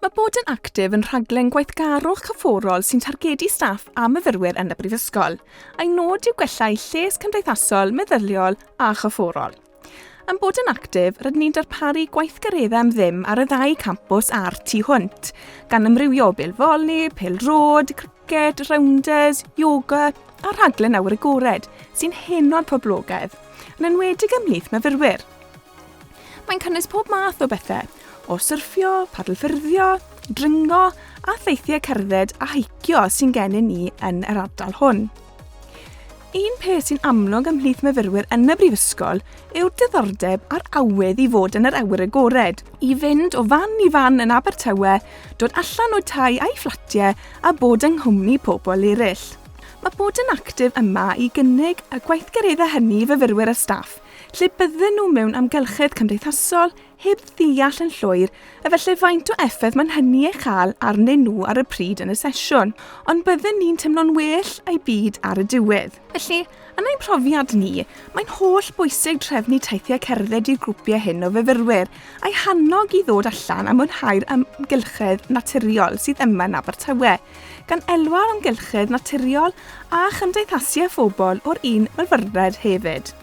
Mae bod yn actif yn rhaglen gweithgarwch cyfforol sy'n targedu staff a myfyrwyr yn y Brifysgol, a'i nod yw gwella eu lles cymdeithasol, meddyliol a chyfforol. Yn bod yn actif, rydyn ni'n darparu gweithgareddau am ddim ar y ddau campws a'r tu hwnt, gan ymrywio o bêl foli, pêl rod, criced, rounders, yoga a rhaglen awyr agored sy'n heno'r poblogaidd, yn enwedig ymhlith myfyrwyr. Mae'n cynnwys pob math o bethau, o syrffio, padlffyrddio, dringo a theithiau cerdded a heicio sy'n gennym ni yn yr ardal hwn. Un peth sy'n amlwg ymhlith myfyrwyr yn y brifysgol yw'r diddordeb a'r awydd i fod yn yr awyr agored, i fynd o fan i fan yn Abertawe, dod allan o'u tai a'i fflatiau a bod yng nghwmni pobl eraill. Mae bod yn actif yma i gynnig y gweithgareddau hynny i fyfyrwyr a staff, lle bydden nhw mewn amgylchedd cymdeithasol heb ddeall yn llwyr efallai faint o effaith mae'n hynny ei chael arnyn nhw ar y pryd yn y sesiwn, ond bydden ni'n teimlo'n well a'u byd ar y diwedd. Felly, yn ein profiad ni, mae'n holl bwysig trefnu teithiau cerdded i'r grwpiau hyn o fyfyrwyr, a'u hannog i ddod allan a mwynhau'r amgylchedd naturiol sydd yma yn Abertawe. gan elwa'r amgylchedd naturiol a chymdeithasu â phobl o'r un myfyrwred hefyd.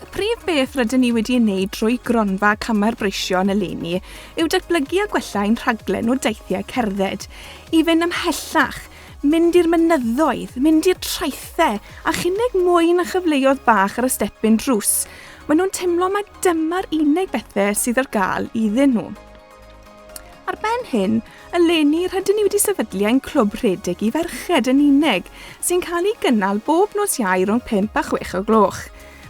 Y prif beth rydyn ni wedi ei wneud drwy Gronfa Camau'r Breision eleni yw datblygu a gwella ein rhaglen o deithiau cerdded, i fynd ymhellach, mynd i'r mynyddoedd, mynd i'r traethau, a chynnig mwy na chyfleoedd bach ar y stepyn drws. Maen nhw'n teimlo mai dyma'r unig bethau sydd ar gael iddyn nhw. Ar ben hyn, eleni rydyn ni wedi sefydlu ein clwb rhedeg i ferched yn unig, sy'n cael ei gynnal bob nos iau rhwng 5 a 6 o gloch.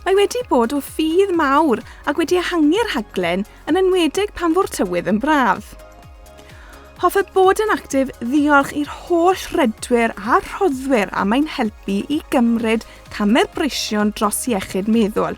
Mae wedi bod o ffydd mawr ac wedi ehangu'r rhaglen, yn enwedig pan fo'r tywydd yn braf. Hoffe bod yn actif ddiolch i'r holl redwyr a rhoddwyr am ein helpu i gymryd camau'r breision dros iechyd meddwl.